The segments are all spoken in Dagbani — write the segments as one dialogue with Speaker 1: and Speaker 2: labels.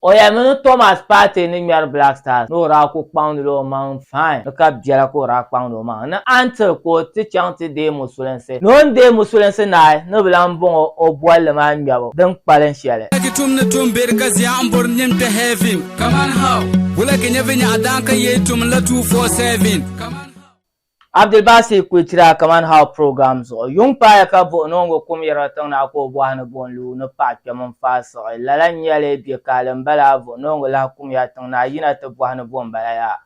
Speaker 1: O yɛli mi ni Thomas Partey ni ŋmɛri Black Stars ni o daa kuli kpaŋdila o maŋ fine ni ka biɛla ka o daa kpaŋdi o maŋ ni until ka o ti chaŋ ti deei musulinsi ni o ni deei musulinsi naai ni bɛ lahi bɔŋɔ o bolli maa ŋmɛbu din kpalim shɛli. Wula ki tum ni tum beri ka zia n bori nim ti
Speaker 2: heaven? Kaman how? Wula ki nyɛ vinyɛɣu daan ka yei tum n la two four seven? Kaman how?
Speaker 1: Abdulbasi Kuitira Kaman How Program zuɣu yuŋ paaya ka buɣi noongu kum yirigi tiŋ na ka o bɔhi ni buɣim lu ni paɣa kpɛm n-faai siɣi. Lala n-nyɛli bɛ kaali m-bala a vuɣi noongu lahi kumya tiŋ na a yina ti bɔhi ni buɣim bala yaa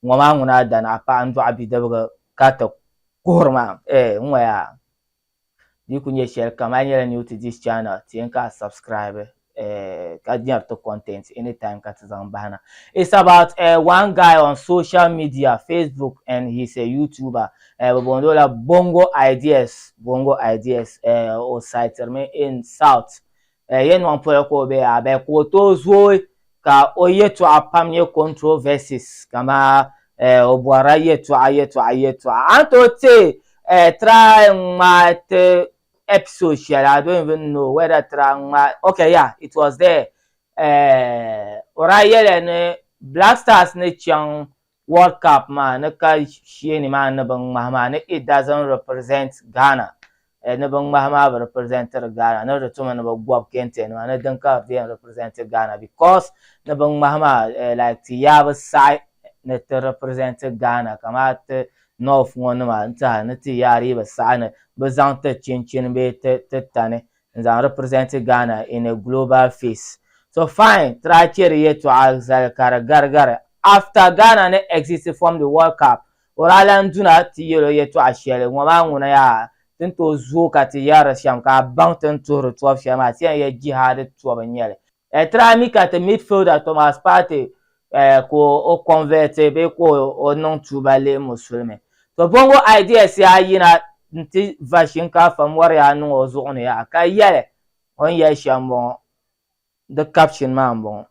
Speaker 1: ŋɔ maa ŋuna a dana a paɣa n-dɔɣi bidibigi ka ti kuhiri ma? Eeh ŋɔ yaa. Di ku nyɛ shɛli kam a yi nyɛla new to this channel ti yɛn ka a subscribe eh, ka nyɛri ti content anytime ka ti zaŋ bahina. It's about eh, one guy on social media, Facebook and he's a YouTuber. Eh, bɛ booni o la Bongo Ideas, Bongo Ideas. Eh, o sitiri mi in South eh, yɛnɔŋ polo ka o be a bɛ ka o tooi zooi ka o yɛtɔɣa pam nyɛ controversies kama eh, o bɔrila yɛtɔɣa yɛtɔɣa yɛtɔɣa a ni tooi te eh, try ŋmaa ti episode shɛli I don't even know whether try ŋmaa okay yeah it was there eh, o daa yɛliya ni Black Stars ni chaŋ World Cup maa ni ka sheeni maa ni bi ŋmahi maa ni it doesn't represent Ghana eh ni bi ŋmahi maa bi representiri Ghana ni di tumi ni bi gobi kente nima ni din ka di yɛn representi Ghana because ni bi ŋmahi maa eh like ti yaa bi saɣi ni ti representi Ghana kamaa ti North ŋɔ nima n tiɛha ni ti yaa di yi bi saɣi ni bi zaŋ ti chinchini bee ti ti tani n zaŋ representi Ghana in a global face so fine tiri a cheri yɛtɔɣa zali ka di garigari after Ghana ni exit from the world cup or a lan duna ti yɛl o yɛtɔɣa shɛli ŋɔ maa ŋuna yaa ti ni tooi zooi ka ti yɛri shɛm ka a baŋ ti ni tuhiri tɔbu shɛli maa ti yɛn yɛl jihaadi tɔbu n-nyɛli. Eh, try mi ka ti midfielder Thomas Partey eh, ka o convert bee ka o niŋ tuuba leei musulimi. To bongo ideas ya yina nti va shinkaafa mɔri ya niŋ o zuɣu ni yaha ka yɛli o ni yɛli shɛm bɔŋɔ. Di caption maa m-bɔŋɔ.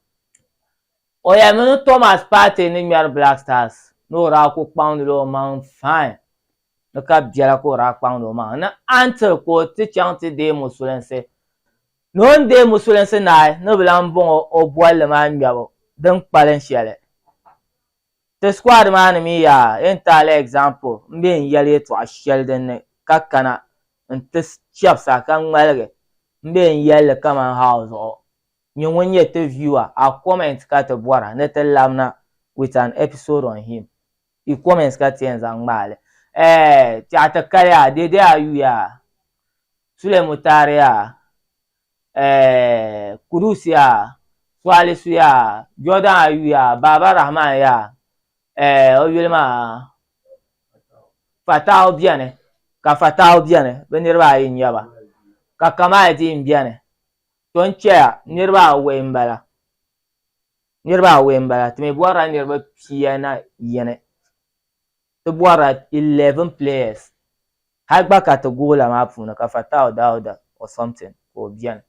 Speaker 1: O yɛlimi ni Thomas Partey ni ŋmɛri Black Stars ni o daa ku kpaŋdila o maŋ fine ni ka biɛla ka o daa kpaŋdi o maŋ ni until ka o ti chaŋ ti deei musulinsi. Ni o ni deei musulinsi naai ni bɛ lahi bɔŋɔ o bolli maa ŋmɛbu din kpalim shɛli. Ti squad maa ni mi yaa entirely example m-be n yɛli yɛtɔɣa shɛli din ni ka kana n-ti chɛbisa ka ŋmaligi m-be n yɛli li kaman how zuɣu nyɛ ŋun nyɛ ti viewer a comment ka ti bɔra ni ti labina with an episode on him. I comments ka ti yɛn zaŋ ŋmaai li. Eeh! Tɛɣu ti kali yaa, Dede Ayu yaa, Sule Mutari yaa, eeh, Kudus yaa, Sualisu yaa, Jordan Ayu yaa, Baaba Rahman yaa, eeh, o yuli maa Fatawu beni, ka Fatawu beni, bɛ niriba ayi n-nyɛ ba, ka Kamaaldeen beni, to n-chɛya niriba awɔi m-bala. Niriba awɔi m-bala. Ti mi bɔrila niriba pia na yini. Ti bɔrila eleven players. Hali gba ka ti goal la maa puuni ka Fatau Dauda or something ka o beni.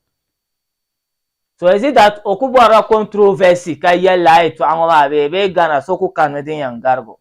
Speaker 1: So is it that o ku bɔrila controversy ka yɛli la a yɛtɔɣa ŋɔ maa bee bee Ghana so ku kanimi din yɛn garig o?